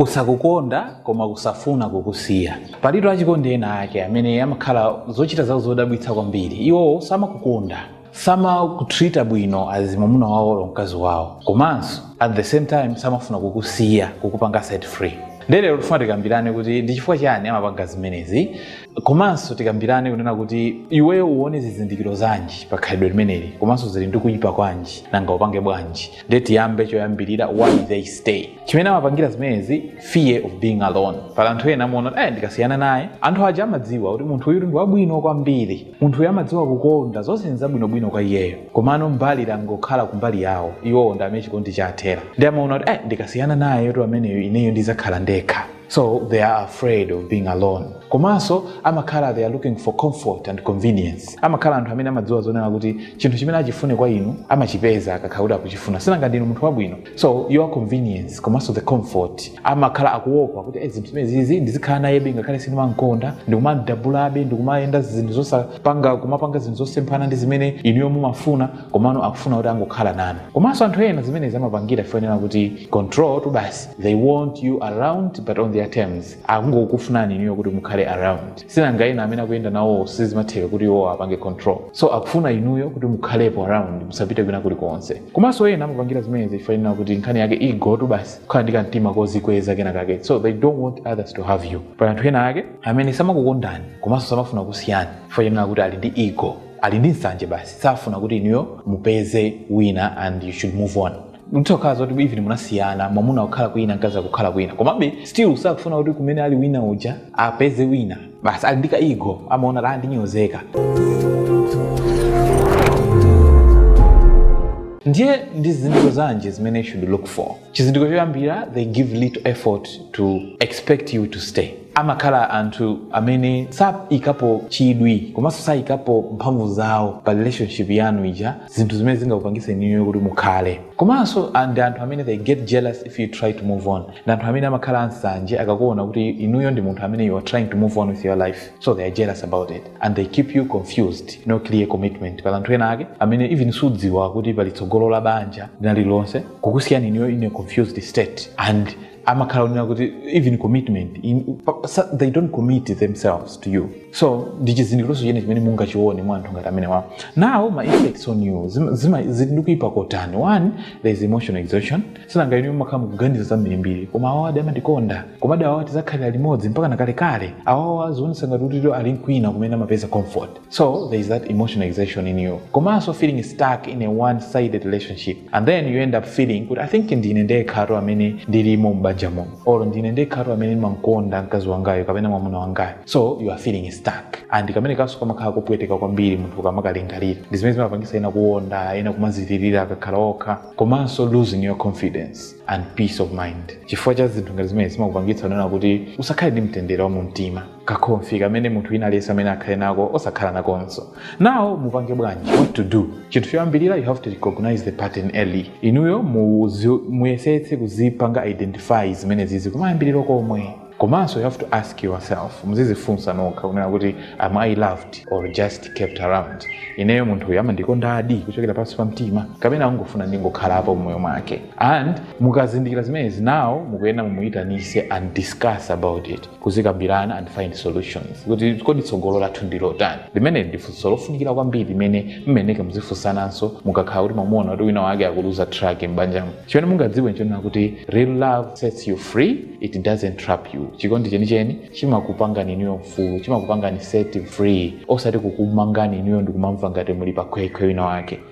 Kusakukonda koma kusafuna kukusiya. Palitu achikondi ena ake amene amakhala zochita zawo zodabwitsa kwambiri. Iwowo samakukonda, samakutreater bwino as mwamuna wawo or mkazi wawo komanso at the same time samafuna kukusiya, kukupanga set free. Nde lero tifuna tikambirane kuti ndi chifukwa chani amapanga zimenezi komanso tikambirane kunena kuti iweyo uwone zizindikiro zanji pa khalidwe limeneli komanso zili ndi kuipa kwanji nanga upange bwanji. Nde tiyambe choyambirira why they stay. chimene amapangira zimenezi fear of being alone pali anthu ena amaona kuti "Eh, ndikasiyana naye anthu aja amadziwa kuti munthu uyu ndi wabwino kwambiri munthu uyu amadziwa kukonda zonse nzabwinobwino kwa iyeyo komano mbali yangokhala kumbali yawo iwowo ndi amene chikondi chathera nde amaona kuti "Eh, ndikasiyana naye kuti ameneyo ineyo ndizakhala ndekha so they are afraid of being alone komanso amakhala they are looking for comfort and convenience amakhala anthu amene amadziwa zonena kuti chinthu chimene achifune kwa inu amachipeza akakhala kuti akuchifuna sinanga ndinu munthu wabwino so your convenience komanso the comfort amakhala akuopa kuti "Eh, zinthu zimenezizi ndizikhala nayebe ngakhale sindimankonda ndikumamdabulabe ndikumayenda zinthu zosapanga kumapanga zinthu zosemphana ndi zimene inuyo mumafuna komano akufuna kuti angokhala nanu komanso anthu ena zimenezi amapangira chifukwa chonena kuti controltu basi they want you around but on their terms akungokufunani inuyo kuti mukhale around sinanga ena amene akuyenda nawo sizimatheka kuti iwo apange control so akufuna inuyo kuti mukhalepo around musapite kwina kulikonse komanso ena amapangira zimenezi chifukwa chonena kuti nkhani yake egotu basi kukhala ndi kamtima kozikweza kena kake so they don't want others to have you pali anthu ena ake amene samakukondani komanso samafuna kukusiyani chifukwa chonena kuti ali ndi ego ali ndi nsanje basi safuna kuti inuyo mupeze wina and you should move on kutokhala zoti even munasiyana mwamuna akukhala kwina mkazi akukhala kwina komabe still sakufuna kuti kumene ali wina uja apeze wina basi ali ndi kaego amaona kuti a ndinyozeka ndiye ndi zizindikiro zanji zimene you should look for chizindikiro choyambira they give little effort to expect you to stay amakhala anthu amene saikapo chidwi komanso saikapo mphamvu zawo pa relationship yanu ija zinthu zimene zingakupangiseni inuyo kuti mukhale komanso ah, ndi anthu amene they get jealous if you try to move on ndi anthu amene amakhala ansanje akakuona kuti inuyo ndi munthu amene you are trying to move on with your life so they are jealous about it and they keep you confused no clear commitment pali anthu ena ake amene even sudziwa kuti pali tsogolo la banja linalilonse kukusiyani inuyo in a confused state and amakhala onena kuti even commitment in, pa- sa- they don't commit themselves to you so ndi chizindikironso china chimene mungachione mwa anthu ngati amenewawa now ma effects on you zima- zima- zili ndi kuipa kotani one there is emotional exhaustion sinanga inu mumakhala mukuganiza zambirimbiri koma awawa adi amandikonda koma adi awawa tizakhalira limodzi mpakana kalekale awawa azionesa ngati kuti ali nkwina kumene amapeza comfort So there is that emotional exhaustion in you. Komanso feeling stuck in a one-sided relationship. And then you end up feeling kuti I think ndine ndekhato amene ndilimo m'banja muno. Or ndine ndekhato amene ndimamkonda mkazi wangayo kapena mwamuna wangayo. So you are feeling stuck. And kamene kanso kamakhala kopweteka kwambiri munthu kamakalingalira. Ndi zimene zimapangitsa ena kuonda, ena kumadzilirira akakhala okha. Komanso losing your confidence and peace of mind. Chifukwa cha zinthu ngati zimene zimakupangitsa kunena kuti usakhale ndi mtendere wa mumtima. kakhonfi kamene munthu wina aliyense amayenera akhale nako osakhala nakonso now mupange bwanji what to do chinthu choyambirira you have to recognize the pattern early inuyo muzi- muyesetse kuzipanga identify zimenezizi kumayambiriro komwe komanso you have to ask yourself muzizifunsa nokha kunena kuti am i loved or just kept around ineyo munthu uyu amandikondadi kuchokera pansi pa mtima kapena angofuna ndingokhalapo mmoyo mwake and mukazindikira zimenezi now mukuyenera mumuyitanitse and discuss about it kuzikambirana and find solutions kuti kodi tsogolo lathu ndi lotani limeneli ndi funso lofunikira kwambiri limene mumayenera muzifunsananso mukakhala kuti mwamuona kuti wina wake akuluza track m'banjamo chimene mungadziwe nchonena kuti real love sets you free it doesn't trap you chikondi chenicheni chimakupangani inuyo mfulu chimakupangani set free osati kukumangani inuyo ndikumamva ngati muli pakhwekhwe wina wake